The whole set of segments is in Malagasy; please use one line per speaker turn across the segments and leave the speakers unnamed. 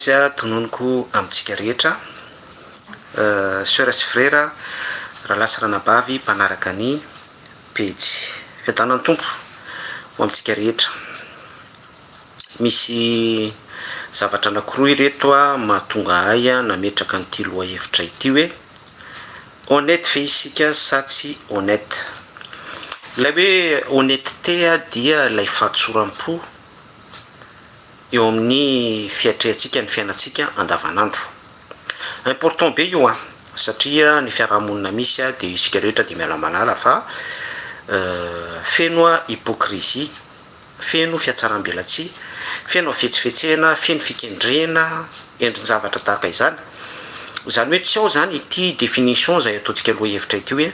Tsia tononiko amintsika rehetra soeur sy frera, rahalahy sy ranabavy mpanaraka ny pejy. Fiadanan'ny Tompo ho amintsika rehetra. Misy zavatra anakiroa ireto mahatonga ahy nametraka an'ity lohahevitra ity hoe, honnête ve isika sa tsy honnête? Ilay hoe honnêteté dia ilay fahatsoram-po. eo amin'ny fiatrehantsika ny fiainantsika andavanandro. Important be io an! Satria ny fiarahamonina misy dia isika rehetra dia miala malala fa feno hypocrisie, feno fiatsarambelatsihy, feno hafetsifetsena, feno fikendrena, endrin-javatra tahaka izany. Izany hoe tsy ao izany ity definition izay ataontsika lohahevitra ity hoe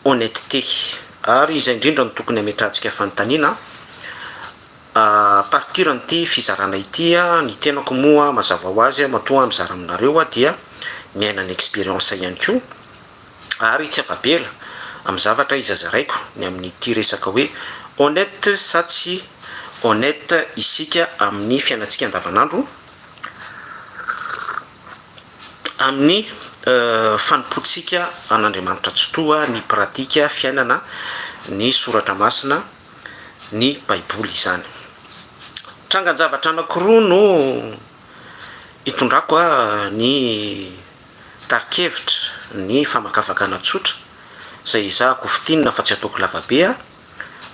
honnêteté. Ary izay indrindra no tokony hametrahantsika fanontaniana. A partir an'ity fizarana ity ny tenako moa mazava ho azy matoa mizara aminareo dia miaina ny experience ihany koa ary tsy afa-bela amin'ny zavatra iza zaraiko ny amin'ity resaka hoe honnête sa tsy honnête isika amin'ny fiainantsika andavanandro amin'ny fanompoantsika an'Andriamanitra Tsitoha ny pratique fiainana ny soratra masina ny Baiboly izany. Trangan-javatra anankiroa no itondrako ny tari-kevitra, ny famakafakana tsotra izay ezahako ho fintinina fa tsy ataoko lavabe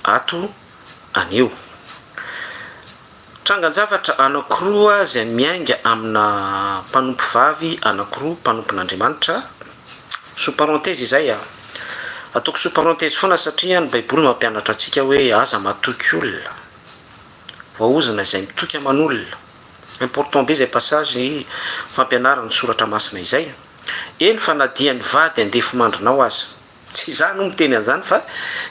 ato anio. Trangan-javatra anankiroa izay miainga amina mpanompo vavy anankiroa mpanompon'Andriamanitra, sous parenthèse izay a, ataoko sous parenthèse foana satria ny Baiboly mampianatra antsika hoe aza matoky olona, voaozona izay mitoky aman'olona, important be izay passage fampianaran'ny soratra masina izay, eny fa na dia ny vady handefimandrinao aza. Tsy izaho no miteny an'izany fa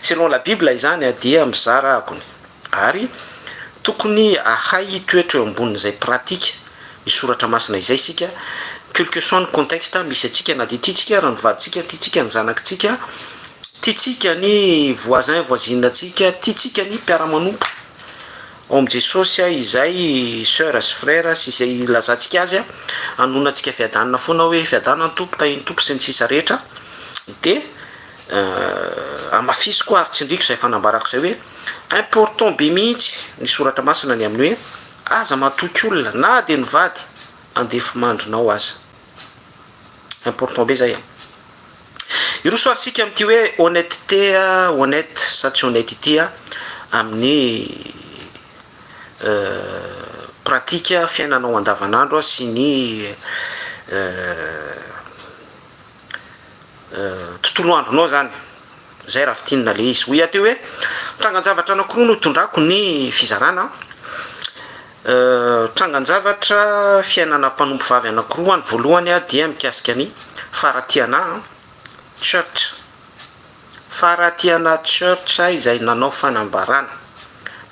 selon la bible izany dia mizara agony ary tokony ahay hitoetra eo ambonin'izay pratique ny soratra masina izay isika quelque soit ny contexte misy antsika na dia tiantsika aza ny vadintsika, tiantsika ny zanakitsika, tiantsika ny voisin voisine antsika, tiantsika ny mpiara-manompo. Ao amin'i Jesosy aho izay soeur sy frère sy izay ilazantsika azy hanonantsika fiadanana foana hoe fiadanana ny Tompo, tahin'ny Tompo sy ny sisa rehetra dia hamafisiko ary tsindriko izay fanambarako izay hoe important be mihitsy ny soratra masina ny amin'ny hoe aza matoky olona na dia ny vady andefimandrinao aza important be izay an! Hiroso ary isika amin'ity hoe honnêteté, honnête sa tsy honnête ity amin'ny pratique fiainanao andavanandro sy ny tontolo andronao izany, izay raha fintinina ilay izy. Hoy aho teo hoe, trangan-javatra anankiroa no itondrako ny fizarana an, Trangan-javatra fiainana mpanompo vavy anankiroa ny voalohany dia mikasika ny Faratiana Church, Faratiana Church izay nanao fanambarana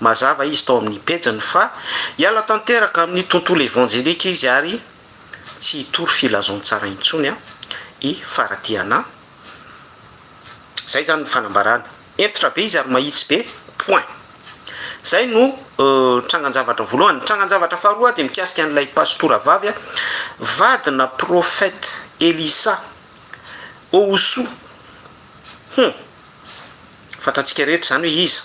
mazava izy tao amin'ny pejiny fa hiala tanteraka amin'ny tontolo evanjelika izy ary tsy hitory filazantsara intsony i Faratiana. Zay zany ny fanambarana. Hentitra be izy ary mahitsy be. Point. Zay no trangan-javatra voalohany. Ny trangan-javatra faharoa dia mikasika an'ilay pasitora vavy, vadina prophète Elisa Owusu. Hum. Fantatsika rehetra zany hoe iza.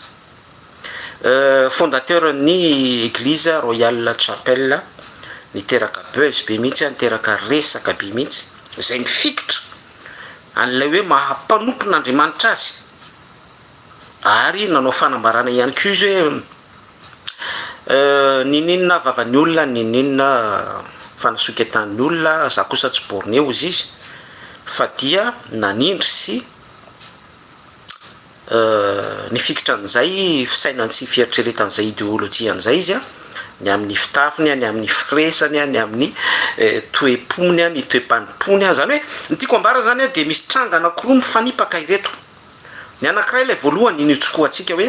Fondateur ny Eglise Royal Chapel. Niteraka buzz be mihitsy, niteraka resaka be mihitsy. Zay mifikitra an'ilay hoe maha mpanompon'Andriamanitra azy, ary nanao fanambarana ihany koa izy hoe Nininona vavan'ny olona, nininona fanasoketan'ny olona, za kosa tsy borne, hozy izy, fa dia nanindry sy Nifikitra an'izay fisainany sy fieritreretan'izay ideolojiany izay izy, ny amin'ny fitafiny, ny amin'ny firesany, ny amin'ny toe-pony, ny toe-panompoany. Izany hoe, ny tiako ambara izany dia misy tranga anankiroa mifanipaka ireto. Ny anankiray, ilay voalohany, iny itsokohantsika hoe,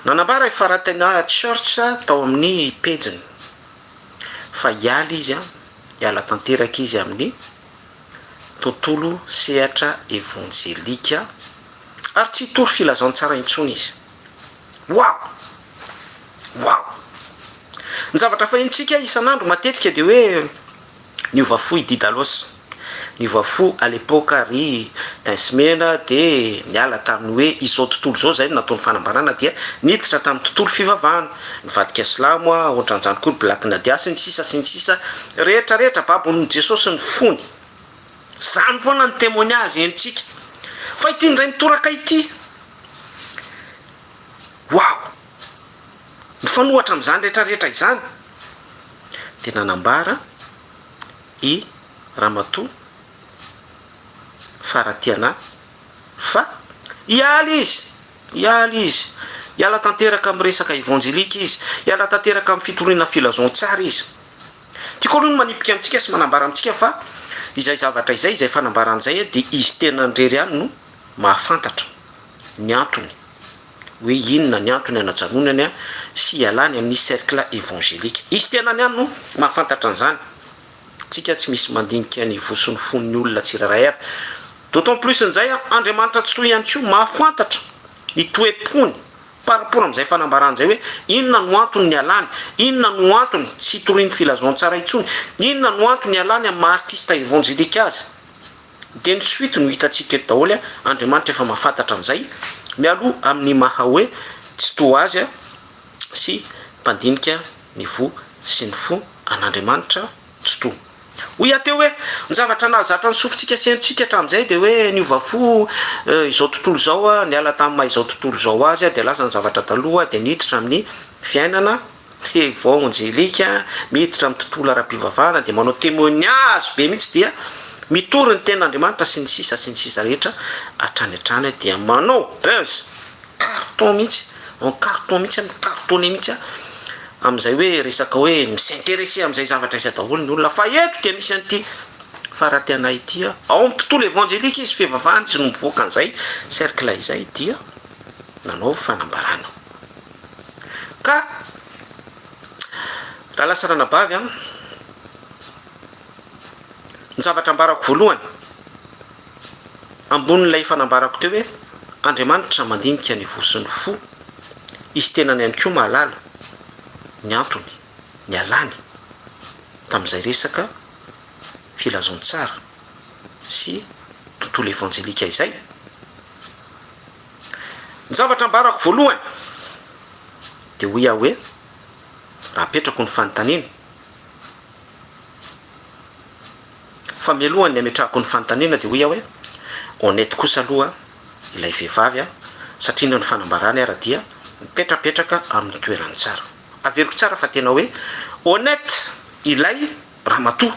nanambara i Faratina Church tao amin'ny pejiny fa hiala izy, hiala tanteraka izy amin'ny. tontolo sehatra evanjelika ary tsy hitory filazantsara intsony izy. Wow! Wow! Ny zavatra fahenontsika isan'andro matetika dia hoe, Niova fo i Didalos. Niova fo à l'époque ary Dinsmena dia niala tamin'ny hoe izao tontolo izao izay no nataony fanambarana dia niditra tamin'ny tontolo fivavahana, nivadika silamo, aontran'izany koa ny Black Nadia sy ny sisa sy ny sisa. Rehetra rehetra babon'i Jesosy ny fony. Zany foana ny témoignage henontsika. Fa ity indray mitoraka ity. Wow! Mifanohatra amin'izany rehetra rehetra izany dia nanambara i Ramatoa Faratiana fa hiala izy, hiala izy, hiala tanteraka amin'ny resaka évangélique izy, hiala tanteraka amin'ny fitoriana filazantsara izy. Tiako aloha ny manipika antsika sy manambara amintsika fa izay zavatra izay, izay fanambarana izay dia izy tenany irery ihany no mahafantatra ny antony hoe inona ny antony hanajanonany sy hialany amin'ny cercle evangelique. Izy tenany ihany no mahafantatra an'izany. Tsika tsy misy mandinika ny voa sy ny fon'ny olona tsirairay avy. D'autant plus an'izay, Andriamanitra Tsitoha ihany koa mahafantatra ny toe-pony Par rapport amin'izay fanambarana izay hoe inona no antony nialany, inona no antony tsy hitorian'ny filazantsara intsony, inona no antony nialany amin'ny maha artista evanjelika azy dia ny suite no hitantsika eto daholo, Andriamanitra efa mahafantatra an'izay mialoha amin'ny maha hoe tsy toa azy sy mpandinika ny voa sy ny fo an'Andriamanitra tsy toa. Hoy aho teo hoe, ny zavatra nahazatra ny sofintsika sy hainontsika hatramin'izay dia hoe niova fo izao tontolo izao, niala tamin'ny maha izao tontolo izao azy dia lasa ny zavatra taloha dia niditra amin'ny fiainana evanjelika, miditra amin'ny tontolo ara-pivavahana dia manao témoignage be mihitsy dia mitory ny tenin'Andriamanitra sy ny sisa sy ny sisa rehetra hatrany hatrany dia manao buzz. carton mihitsy en carton mihitsy an cartonne mihitsy an amin'izay hoe resaka hoe mi-s'interesser amin'izay zavatra izay daholo ny olona fa eto dia misy an'ity farahateanay ity an ao amin'ny tontolo evanjelika izy fivavahana izy no mivoaka an'izay cercle izay dia nanao fanambarana ka raha lasa ranabavy an ny zavatra ambarako voalohany Ambonin'ilay efa nambarako teo hoe Andriamanitra mandinika ny voa sy ny fo, Izy tenany ihany koa mahalala ny antony nialany tamin'izay resaka filazantsara sy tontolo evanjelika izay. Ny zavatra ambarako voalohany dia hoy aho hoe, raha apetrako ny fanontaniana, Fa mialoha ny ametrahako ny fanontaniana dia hoy aho hoe, honnête kosa aloha ilay vehivavy an, satria indreo ny fanambarany ara dia mipetrapetraka amin'ny toerany tsara. Averiko tsara fa tena hoe honnête ilay ramatoa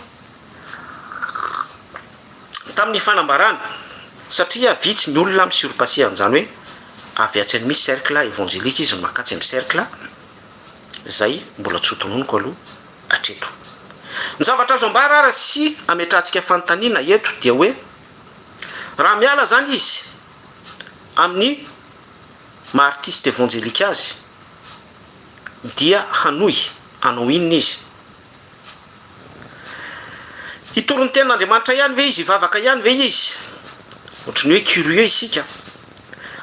tamin'ny fanambarany satria vitsy ny olona mi surpasser an'izany hoe avy atsy amin'ny cercle évangélique izy no mak'atsy amin'ny cercle izay mbola tsy ho tononiko aloha hatreto. Ny zavatra azo ambara ary sy ametrahantsika fanontaniana eto dia hoe raha miala izany izy amin'ny maha artiste evangelique azy dia hanohy hanao inona izy? Hitory ny tenin'Andriamanitra ihany ve izy? Hivavaka ihany ve izy? Ohatry ny hoe curieux isika.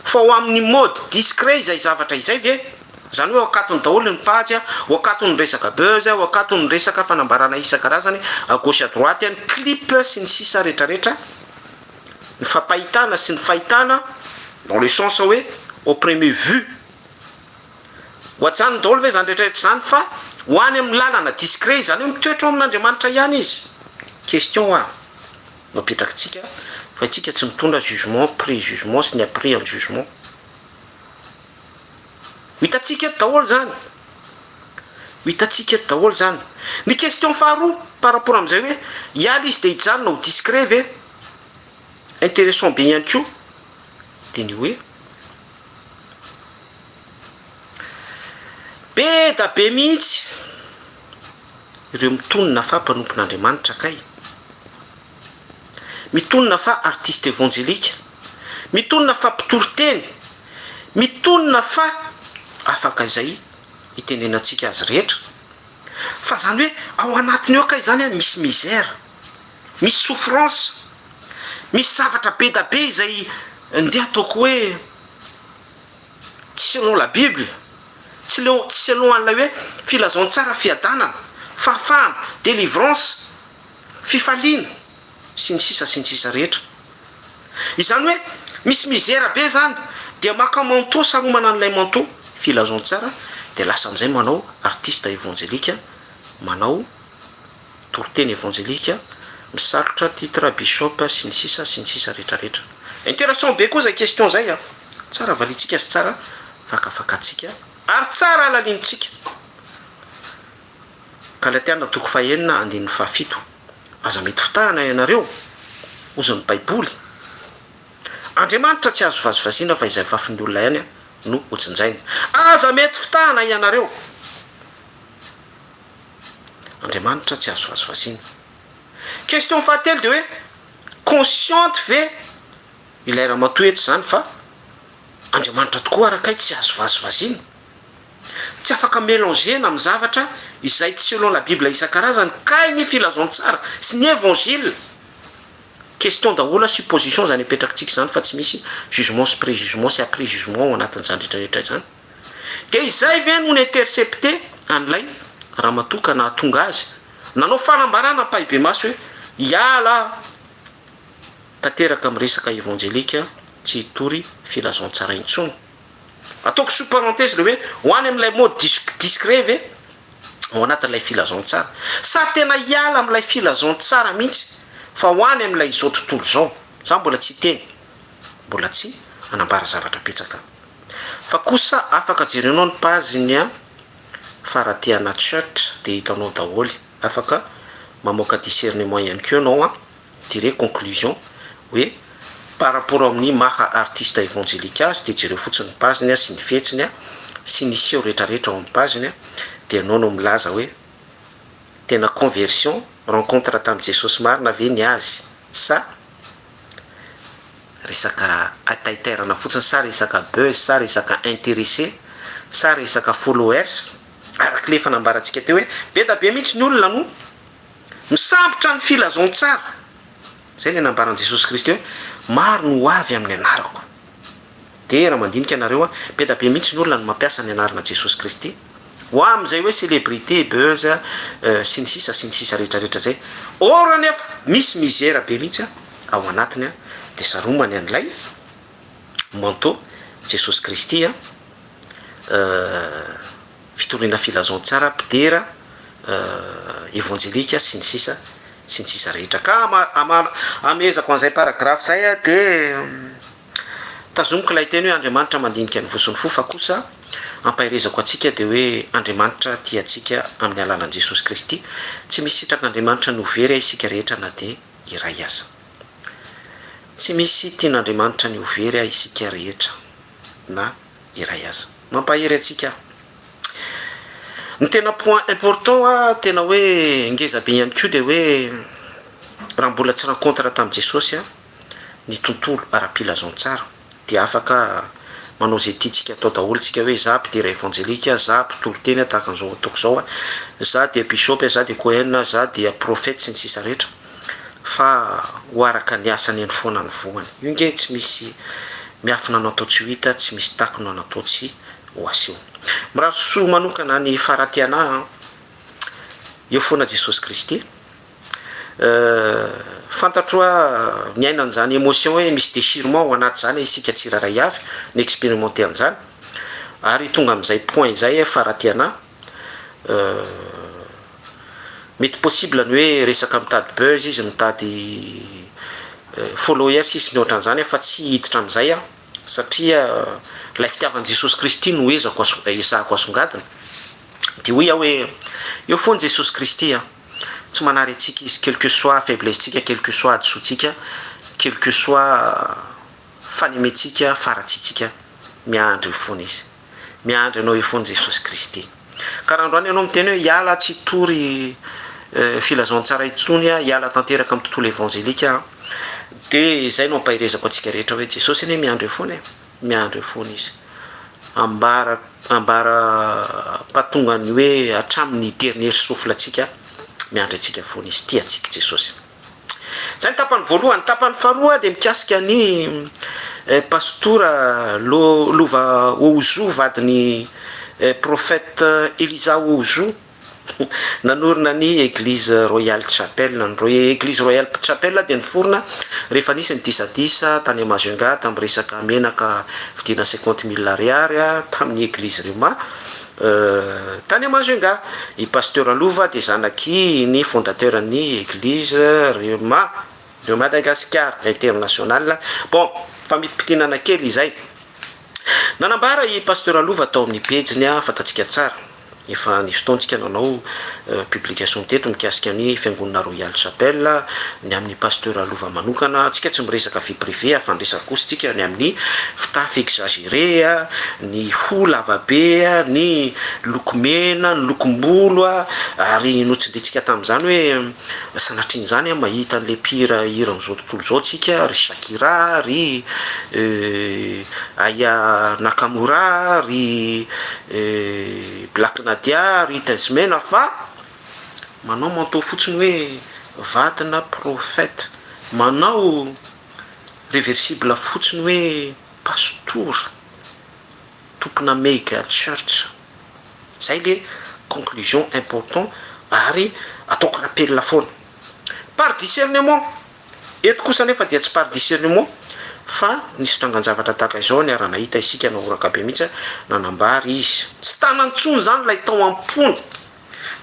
Fa ho amin'ny mode discret izay zavatra izay ve? Izany hoe ho akatony daholo ny page, ho akatony ny resaka buzz, ho akatony ny resaka fanambarana isan-karazany à gauche à droite, ny clip sy ny sisa retraretra, ny fampahitana sy ny fahitana dans le sens hoe au premier vue. Ho ajanony daholo ve izany retraretra izany fa ho any amin'ny lalana discret izany hoe mitoetra ao amin'Andriamanitra ihany izy? Question ho ahy. Napetrakitsika fa itsika tsy mitondra jugement pré jugement sy ny après an jugement. Ho hitantsika eto daholo izany. Ho hitantsika eto daholo izany. Ny question faharoa par rapport amin'izay hoe hiala izy dia hijanona ho discret ve? Interessant be ihany koa dia ny hoe, be da be mihitsy. ireo mitonona fa mpanompon'Andriamanitra kay mitonona fa artiste evanjelika mitonona fa mpitory teny mitonona fa afaka izay itenenantsika azy rehetra fa zany hoe ao anatiny ao kay zany an misy misère misy souffrance misy zavatra bedabe izay ndeha ataoko hoe Selon la Bible, tsy leo, tsy selon an'ilay hoe filazantsara, fiadanana, fahafahana, délivrance, fifaliana, sy ny sisa sy ny sisa rehetra. Izany hoe misy mizera be izany dia maka manteau saromana an'ilay manteau filazantsara dia lasa amin'izay manao artiste évangélika manao Toriteny evanjelika, misalotra titre bishop sy ny sisa sy ny sisa rehetra rehetra. Intéressant be koa zay question zay a! Tsara valintsika sy tsara fakafakatsika ary tsara alalintsika. Galatiana toko faha enina andininy faha fito, aza mety fitahana ianareo, hozy ny baiboly, Andriamanitra tsy azo vazivaziana fa izay fafin'ny olona ihany no hojinjaina. Aza mety fitahana ianareo. Andriamanitra tsy azo vasivasiana. Question fahatelo dia hoe consciente ve ilay ramatoa eto izany fa Andriamanitra tokoa ary kay tsy azo vasivasiana? Tsy afaka melangeana amin'ny zavatra izay tsy selon la bible isan-karazany kay ny filazantsara sy ny evangile. Question daholo supposition izany apetrakitsika izany fa tsy misy jugement sy prejugement sy après jugement ao anatin'izany rehetra rehetra izany. Dia izay ve no ni-intercepte an'ilay ramatoa ka nahatonga azy nanao fanambarana ampahibemaso hoe hiala aho tanteraka amin'ny resaka evanjelika tsy hitory filazantsara intsony? Ataoko sous parenthèse ilay hoe ho any amin'ilay mode disque discret ve ao anatin'ilay filazantsara? Sa tena hiala amin'ilay filazantsara mihitsy fa ho any amin'ilay izao tontolo izao? Izaho mbola tsy hiteny. mbola tsy nanambara zavatra betsaka. Fa kosa afaka jerenao ny page ny an fa raha te hana chart dia hitanao daholo, afaka mamoaka discernement ihany koa ianao an tire conclusion hoe par rapport amin'ny maha artiste evangelique azy dia jereo fotsiny ny page ny sy ny fihetsiny an sy ny seho retraretra ao amin'ny page ny an dia ianao no milaza hoe tena conversion, rencontre tamin'i Jesosy marina ve ny azy sa Resaka taitairana fotsiny sa resaka buzz sa resaka interesse sa resaka followers? Araka ilay efa nambarantsika teo hoe be da be mihitsy ny olona no misambotra ny filazantsara. Izay ilay nambaran'i Jesosy Kristy hoe maro no ho avy amin'ny anarako. Dera mandinika anareo a! Beda be mihitsy ny olona no mampiasa ny anarana Jesosy Kristy ho amin izay hoe celebrity, buzz, sy ny sisa sy ny sisa rehetra rehetra zay. Or anefa misy mizera be mihitsy ao anatiny a! De saromany an ilay manteau Jesosy Kristy a! fitoriana filazantsara, mpidera, evanjelika, sy ny sisa sy ny sisa rehetra. Ka amehezako an'izay paragraphe izay dia tazomiko ilay teny hoe Andriamanitra mandinika ny voson'ny fo fa kosa ampaherezako antsika dia hoe Andriamanitra tia antsika amin'ny alalan'i Jesosy Kristy. Tsy misy sitrak'Andriamanitra no very isika rehetra na dia iray aza. Tsy misy tian'Andriamanitra ny ho very isika rehetra na iray aza. Mampahery antsika aho. Ny tena point important a, tena hoe ngeza be ihany koa dia hoe raha mbola tsy rencontre tamin'i Jesosy a, ny tontolo ara-pilazantsara dia afaka manao izay tiantsika atao daholo tsika hoe za mpidera evangelique a, za mpitory teny a, tahaka an'izao ataoko izao a, za dia bishop a, za dia cohen a, za dia prophète sy ny sisa rehetra. Fa ho araka ny asany eny foana ny voany. Io nge tsy misy miafina no atao tsy ho hita, tsy misy taky no natao tsy ho aseho. Mirary soa manokana ny Faratiana an! Eo foana Jesosy Kristy. Fantatro hoa miaina an'izany emotion hoe misy déchirement ao anaty izany isika tsirairay avy, ni-experimenter an'izany. Ary tonga amin'izay point izay Faratiana. Mety possible ny hoe resaka mitady buzz izy mitady followers izy sy ny ohatran'izany an fa tsy hiditra amin'izay aho satria ilay fitiavan'i Jesosy Kristy no ezako ezahako asongadina dia hoy aho hoe eo foana Jesosy Kristy an tsy manary antsika izy quel que soit faiblesse tsika quel que soit hadisoantsika quel que soit fanementsika faratsiantsika miandry eo foana izy Miandry anao eo foana Jesosy Kristy. Ka raha androany ianao miteny hoe hiala tsy hitory filazantsara intsony aho, hiala tanteraka amin'ny tontolo evanjelika aho, dia izay no ampaherezako antsika rehetra hoe Jesosy anie miandry eo foana e, miandry eo foana Izy. Ambara, ambara patongan'ny hoe hatramin'ny dernier souffle antsika, miandry antsika foana Izy. Tia antsika Jesosy. Izay ny tapany voalohany. Ny tapany faharoa dia mikasika an'i Pastora Lo, Lova Ouzou, vadin'i Prophète Eliza Ouzou, nanorina ny Eglise Royale Chapel. Ny Roy, Eglise Royale Chapel dia niforona rehefa nisy ny disadisa tany Majunga tamin'ny resaka menaka vidiana cinquante mille ariary tamin'ny Eglise Rhema. Tany am hazo enga. I Pasteur Lova dia zanaky ny fondateur ny Eglise Rhema de Madagascar international. Bon, famitipitinana kely izay. Nanambara i Pasteur Lova tao amin'ny pejiny, fantatsika tsara. Efa nisy fotoantsika nanao publication teto mikasika ny fiangonana Royal Chapel ny amin'ny pasteur lova manokana tsika tsy miresaka vie privée a fa ny resaka kosa tsika ny amin'ny fitafy exagere a ny hoho lava be a ny loko mena ny lokom-bolo a ary notsiditsika tamin'izany hoe sanatrian'izany a mahita an'le mpihira hiran'izao tontolo izao tsika ry shakira ry euh aya nakamura ry euh black nadia ry tensmena fa Manao manteau fotsiny hoe vadina prophète. Manao reversible fotsiny hoe pastora, tompona mega church. Zay le conclusion important ary ataoko rappel foana. Par discernement, eto kosa anefa dia tsy par discernement fa nisy trangan-javatra tahaka izao niara-nahita isika nahoraka be mihitsy nanambara izy. Tsy tanany intsony zany ilay tao am-pony.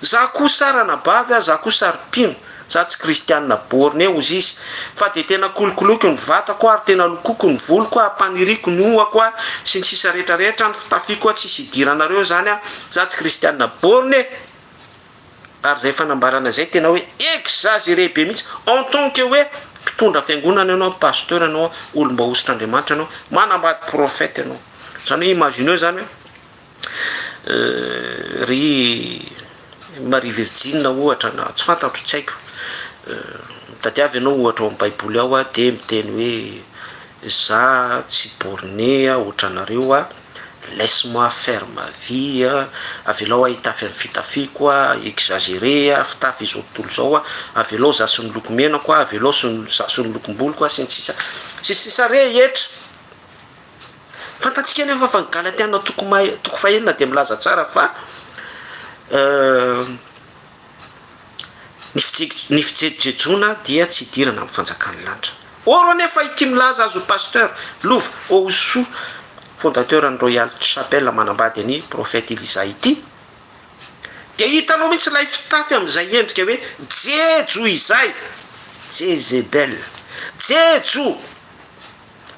Za ko sa ranabavy a, za ko sa ry mpino, za tsy kristianina borne ozy izy, fa de tena kolokoloiko ny vatako ary tena lokoko ny voloko a, paniriko ny hohako a, sy ny sisa rehetra rehetra, ny fitafiko a, tsisy idiranareo zany a, za tsy kristianina borne e! ary zay fanambarana zay tena hoe exagere be mihitsy, en tant que hoe mpitondra fiangonana ianao, pasteur ianao, olom-bahosotr'Andriamanitra ianao, manambady prophète ianao, zany hoe imagineo zany hoe Ry Maria Virjina, ohatra, na tsy fantatro, tsy haiko. Mitadiava ianao ohatra ao amin'ny Baiboly ao dia miteny hoe, Izaho tsy borné hoatra anareo aho, laisse moi faire ma vie, avelao aho hitafy amin'ny fitafiako, exagéré, fitafy izao tontolo izao, avelao izaho sy ny lokomenako, avelao izaho sy ny lokom-boloko, sy ny sisa sy ny sisa rehetra. Fantatsika anefa fa ny Galatiana toko maha toko fahenina dia milaza tsara fa ny fijek- ny fijejojejoana dia tsy hidirana amin'ny fanjakan'ny lanitra. Or anefa ity milaza azy ho pasteur Lova Ohosoa, fondateur ny Royal Chapel manambady an'i Prophète Elisa ity, dia hitanao mihitsy ilay fitafy amin'izay endrika hoe jejo izay, Jezebel, jejo.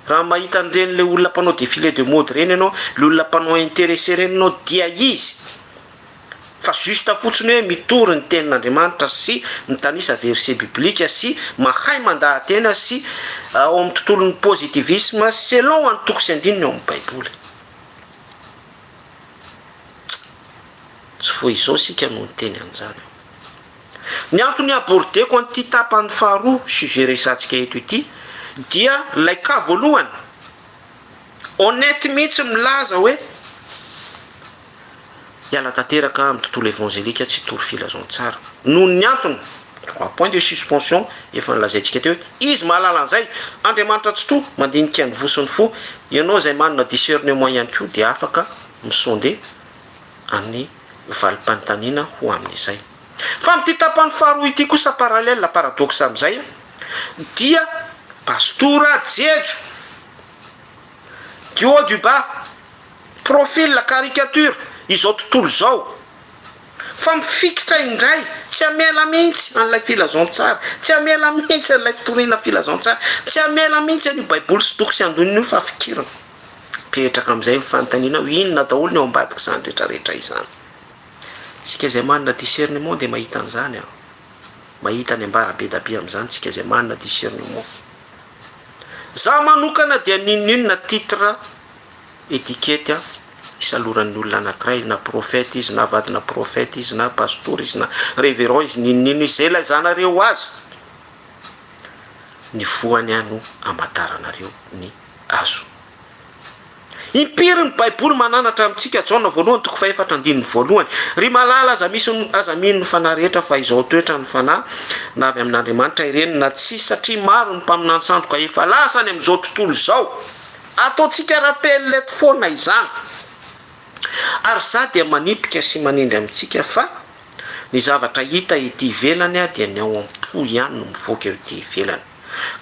Raha mahita an'ireny le olona mpanao défilé de mode ireny ianao, le olona mpanao intéressé ireny ianao dia izy, fa juste fotsiny hoe mitory ny tenin'Andriamanitra sy mitanisa verset biblique sy mahay mandaha-tena sy ao amin'ny tontolon'ny positivisme selon antoko sy andininy ao amin'ny baiboly. Tsy vao izao isika no niteny an'izany. Ny antony hi-aborder-ko an'ity tapany faharoa sujet resatsika eto ity dia ilay cas voalohany honnête mihitsy milaza hoe hiala tanteraka amin'ny tontolo evanjelika tsy hitory filazantsara noho ny antony trois points de suspension efa nolazaintsika teo hoe izy mahalala an'izay, Andriamanitra Tsitoha mandinika ny voa sy ny fo, ianao izay manana discernement ihany koa dia afaka mi-sonder. amin'ny valim-panontaniana ho amin'izay. Fa amin'ity tapany faharoa ity kosa parallèle paradoxe amin'izay dia Pastora Jejo du haut du bas, profil caricature izao tontolo izao. Fa mifikitra indray, tsy hamela mihitsy an'ilay filazantsara, tsy hamela mihitsy an'ilay fitoriana filazantsara, tsy hamela mihitsy an'io baiboly sy toko sy andininy io fa fikiriny. Mipetraka amin'izay ny fanontaniana hoe inona daholo ny ao ambadik'izany rehetra rehetra izany? Isika izay manana discernement dia mahita an'izany an! Mahita ny ambara be da be amin'izany isika izay manana discernement. Za manokana dia n'inon'inona titre, etikety an, isaloran'ny olona anakiray, na prophète izy, na vadina prophète izy, na pastora izy, na reverend izy, n'inon'inona izy, izay laizanareo azy, ny voany an no amantaranareo ny. azo. Impiry ny baiboly mananatra amintsika, Jaona voalohany toko fahefatra andininy voalohany, Ry malala aza misy ny aza mino ny fanahy rehetra fa izao toetra ny fanahy na avy amin'Andriamanitra ireny na tsia satria maro ny mpaminany sandoka efa lasa any amin'izao tontolo izao ataontsika rappel eto foana izany ary za dia manipika sy manendry amintsika fa ny zavatra hita ety ivelany dia ny ao am-po ihany no mivoaka eo ety ivelany.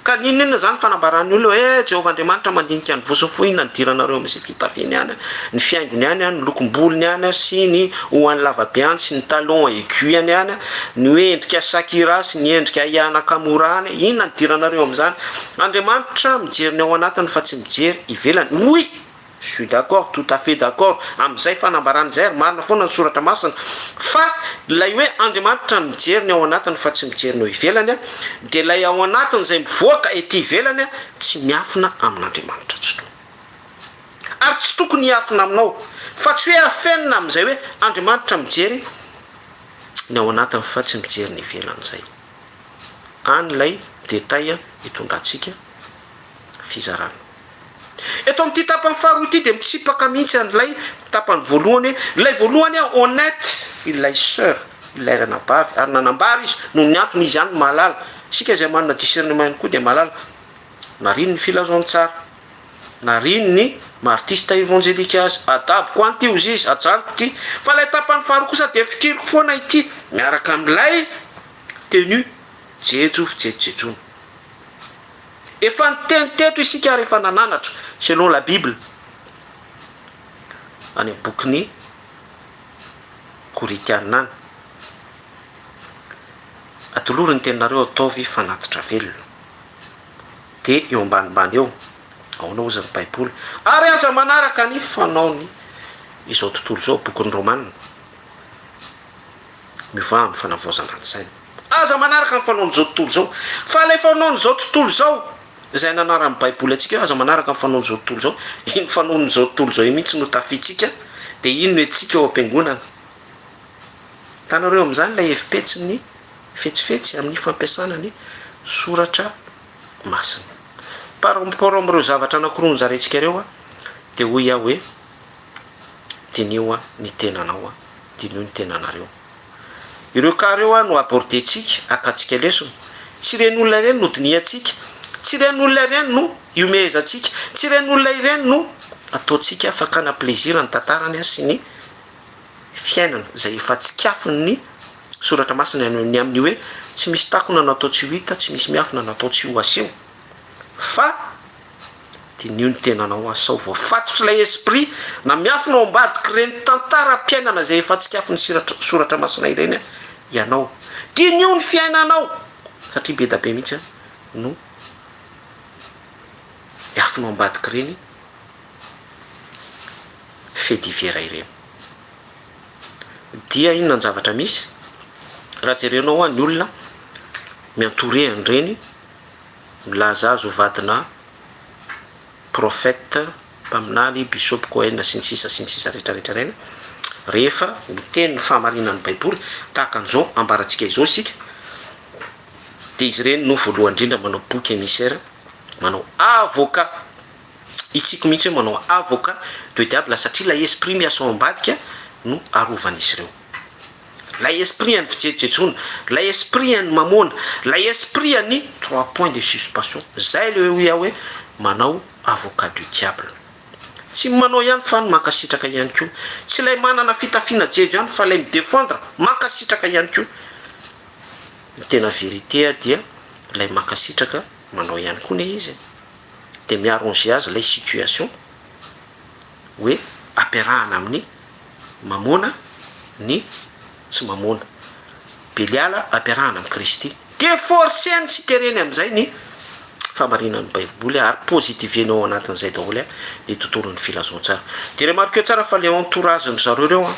Ka n'inon'inona izany fanambaran'ny olona hoe Jehovah Andriamanitra mandinika ny vozon'ny fo, inona nidiranareo amin'izay fitafiany any, ny fihaingony any, ny lokom-bolony any sy ny hohony lavabe any sy ny talons aiguilles-ny any, ny hoe endrika Shakira sy ny endrika Aya Nakamura any, inona nidiranareo amin'izany? Andriamanitra mijery ny ao anatiny fa tsy mijery ivelany. Oui! Je suis d'accord, tout à fait d'accord, amin'izay fanambarana izay ary marina foana ny soratra masina fa ilay hoe Andriamanitra mijery ny ao anatiny fa tsy mijery ny eo ivelany dia ilay ao anatiny izay mivoaka ety ivelany tsy miafina amin'Andriamanitra tsitoha ary tsy tokony hiafina aminao fa tsy hoe afenina amin'izay hoe Andriamanitra mijery ny ao anatiny fa tsy mijery ny ivelany izay any ilay détail hitondrantsika fizarana Eto amin'ity tapany faharoa ity dia mitsipaka mihitsy an'ilay tapany voalohany hoe, ilay voalohany aho honnête, ilay soeur, ilay ranabavy, ary nanambara izy, noho ny antony izy ihany no mahalala, isika izay manana discernement ihany koa dia mahalala, nariany ny filazantsara, nariany ny maha artiste evangelique azy, adaboko any ity hozy izy, ajanoko ity, fa ilay tapany faharoa kosa dia fikiriko foana ity, miaraka amin'ilay tenue jejo fijejojejoana. Efa niteny teto isika ary efa nananatra selon la bible any amin'ny bokin'i Korintiana any. Atolory ny teninareo ataovy fanatitra velona. Dia eo ambanimbany eo, ahoana ozy ny baiboly? Ary aza manaraka ny fanaon'ny izao tontolo izao, bokin'ny Romana. Mivaha amin'ny fanavaozana an-tsaina. Aza manaraka ny fanaon'izao tontolo izao. Fa ilay fanaon'izao tontolo izao, izay ananaran'ny Baiboly antsika hoe aza manaraka ny fanaon'izao tontolo izao, iny fanaon'izao tontolo izao iny mihitsy no tafiantsika, dia iny no hentsika ao am-piangonana. Hitanareo amin'izany ilay hevi-petsin'ny fetsifetsy amin'ny fampiasana ny soratra masina. Par rapport amin'ireo zavatra anankiroa nozaraintsika ireo dia hoy aho hoe, Diniho ny tenanao, diniho ny tenanareo. Ireo cas ireo no abordentsika, akantsika lesona. Tsy ireny olona ireny no dinihantsika, tsy ireny olona ireny no ihomehezantsika, tsy ireny olona ireny no ataontsika fakana plaisir ny tantarany sy ny fiainana izay efa tsikafon'ny Soratra Masina ny amin'ny hoe tsy misy takona natao tsy ho hita, tsy misy miafina natao tsy ho aseho fa Diniho ny tenanao aho sao voafatotry ilay esprit na miafina ao ambadik'i reny tantaram-piainana izay efa tsikafin'ny siratra soratra masina ireny an, ianao. Diniho ny fiainanao satria bedabe mihitsy an no miafina ao ambadik'ireny fait divers ireny. Dia inona ny zavatra misy raha jerenao an ny olona miantoreha an'ireny Milaza azy ho vadinà prophète, mpaminany, bisopy, kohen, sy ny sisa sy ny sisa rehetra rehetra ireny, rehefa miteny ny fahamarinan'ny baiboly, tahaka an'izao ambarantsika izao isika, dia izy ireny no voalohany indrindra manao bouc émissaire, manao avocat, hitsiko mihitsy hoe manao avocat de diable satria ilay esprit miasa ao ambadika no arovan'izy ireo. Lay esprit an'ny fijejojejoana, lay esprit an'ny mamoana, lay esprit an'ny trois points de suspension, zay le oe aho oe manao avocat du diable. Tsy ny manao ihany fan mankasitraka ihany koa, tsy lay manana fitafiana jejo ihany fa lay mi defendre mankasitraka ihany koa. Ny tena verite dia lay mankasitraka manao ihany koa ne izy e. De mi arranger azy lay situation. hoe ampiarahana amin'ny mamoana ny tsy mamoana. Beliala ampiarahana amin'i Kristy. Dia forcer-ny sy tereny amin'izay ny fahamarinan'ny Baiboly ary positiveny ao anatin'izay daholo ny tontolon'ny filazantsara. Dia remarqueo tsara fa ilay entourage-ndry zareo ireo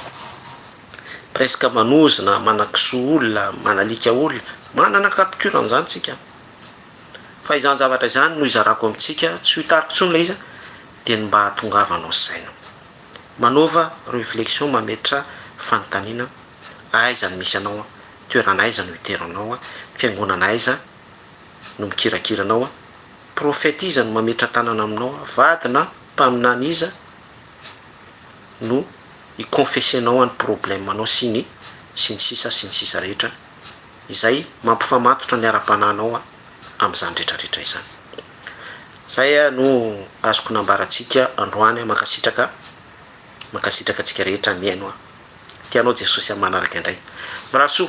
presque manozona, manakisoa olona, manalika olona. Manana capture an'izany isika. Fa izany zavatra izany no hizarako amintsika, tsy ho hitariko intsony ilay izy an, Dia ny mba hahatongavanao saina. Manaova reflexion mametra fanontaniana aiza no misy anao toerana aiza no iteranao fiangonana aiza no mikirakira anao prophète iza no mametra tanana aminao vady na mpaminany iza no hi confesser anao any problème anao sy ny sy ny sisa sy ny sisa rehetra izay mampifamatotra ny ara-panahinao amin'izany rehetra rehetra izany. Zay no azoko nambarantsika androany mankasitraka mankasitraka antsika rehetra mihaino an! Tianao Jesosy an! Manaraka indray Rasoa.